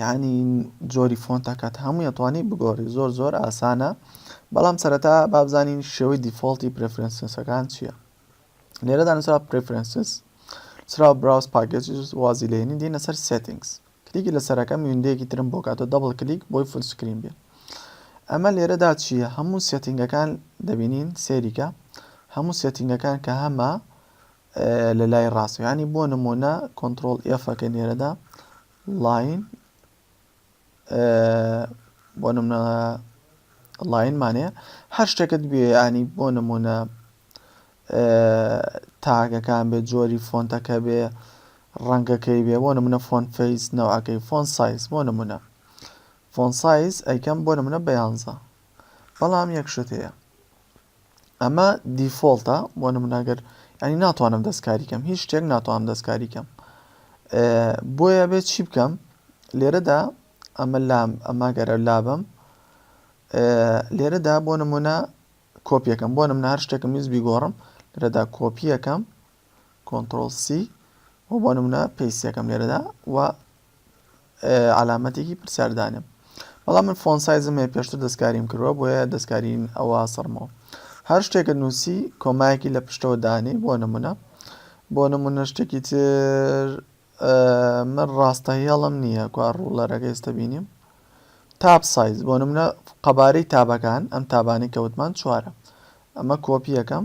یانی جۆری فۆنتە کات هەمووی ئەتوانی بگۆڕی زۆر زۆر ئاسانە بەڵام سەرەتا بابزانین شێوەی دیفۆڵتی پرفرەنسەکان چییە لێرەدا نووسرا پرفرەنسس سرا براوس پاکێجز وازی لێنی دێنە سەر سێتنگس کلیکی لە سەرەکەم ویندەیەکی ترم بۆ کاتۆ دەبڵ کلیک بۆی فول سکرین بێ ئەمە لێرەدا چییە هەموو سێتنگەکان دەبینین سێریکە هەموو سێتنگەکان کە هەمە لە لای ڕاستەکانی بۆ نمونە کۆنتترۆل ئێفەکە نێرەدا ڵاین، بۆ نمونە ڵاین مانێ هەر شتێکت بێ ینی بۆ نمونە تاگەکان بێ جۆری فۆنتەکە بێ ڕەنگەکەی بێ بۆ نمونە فۆن فەیس نەوەکەی فۆن سایز بۆ نمونە فۆن سایز ئەیکەم بۆ نمونە بەیانزە بەڵام یەک شت هەیە ئەمە دیفۆڵتە بۆ نمونە گەر ینی ناتوانم دەستکاری کەم هیچ شتێک ناتوانم دەستکاری کەم بۆیە بێت چی بکەم لێرەدا ئەمە لام ئەما گەرە لابم لێرەدا بۆ نمونە کۆپیەکەم بۆ نمنە هەر شتێکم میز بیگۆڕم لێرەدا کۆپیەکەم کۆنتترۆل سی و بۆ نمونە پێسیەکەم لێرەدا و عەلامەتێکی پرسیار دانێ بەڵام من فۆن سایزم هەیە پێشتر دەستکاریم کردوە بۆیە دەستکارین ئەوە سەرمەوە هەر شتێکە نووسی کۆمایەکی لە پشتەوە دانێ بۆ نمونە بۆ نمونە شتێکی تر من ڕاستە هێڵم نییە کوا ڕوڵەرەکە ئێستا بینیم تاب سایز بۆ نمونە قەبارەی تابەکان ئەم تابانی کەوتمان چوارە ئەمە کۆپیەکەم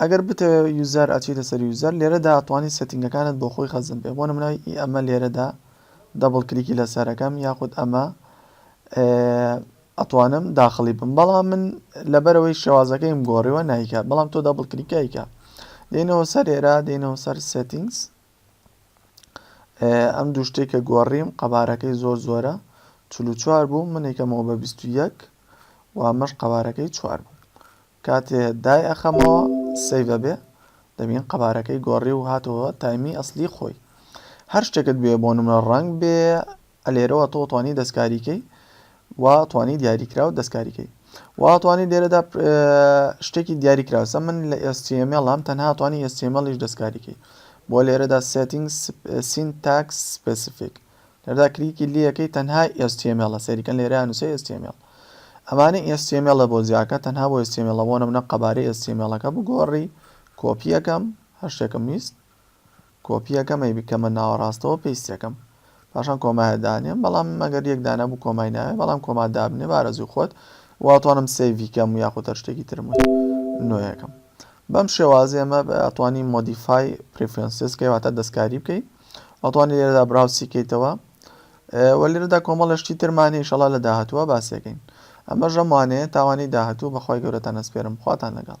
ئەگەر بتەوێ یوزەر ئەچیتە سەر یوزەر لێرەدا ئەتوانی سێتینگەکانت بۆ خۆی خەزن بێ بۆ نمونە ئی ئەمە لێرەدا دەبڵ کلیکی لەسەر ئەکەم یاخود ئەمە ئەتوانم داخڵی بم بەڵام من لەبەرەوەی شێوازەکەیم گۆڕیوە نایکات بەڵام تۆ دەبڵ کلیکایکە دێنەوە سەر ئێرا دێنەوە سەر سێتینگس ئەم دوو شتێک کە گۆڕیم قەبارەکەی زۆر زۆرە چلو چوار بوو منێکەمەوە بە 21 و ئەمەش قەبارەکەی چوار بوو کاتێ دای ئەخەمەوە سەیڤ ئەبێ دەبین قەبارەکەی گۆڕی و هاتەوە تایمی ئەسلی خۆی هەر شتێکت بێ بۆ نمرە ڕەنگ بێ ئەلێرەوە تۆ توانی دەستکاریکەی وا توانی دیاریکرا و دەستکاریکەی وا توانی لێرەدا شتێکی دیاریکراوسە من لە ئێستیمێڵام تەنها توانی ئێستیمەڵیش دەستکاریکەی بۆ لێرەدا سێتنگ سینتاکس سپسیفیک لێرەدا کلیکی لەکەی تەنها html ە سەیری کەن لێرەیا نوسێ html ئەمانە html ە بۆ جیاکە تەنها بۆ html ە بۆ نمونە قەبارەی html ەکە بگۆڕی کۆپی ئەکەم هەر شتێکم ویست کۆپی ئەکەم ئەی بکەمە ناوەڕاستەوە پێیستی ئەکەم پاشان کۆمایە دانێم بەڵام مەگەر یەک دانە بوو کۆمای ناوێ بەڵام کۆما دابنێ بارەزوی خۆت واتوانم سەیڤی کەم یاخود هەر شتێکی ترم وت نوێیەکەم بەم شێوازێمە ئەتوانی مۆدیفای پریفرنسس کەی واتە دەستکاری بکەی ئەتوانی لێرەدا براوسی کەیتەوە وە لێرەدا کۆمەڵە شتی ترمان هیشەڵا لە داهتووە باسێکەین ئەمە ژەمانەیە تاوانی داهتوو بەخوای گەورەتان ئەسپێرم خواتان لەگەڵ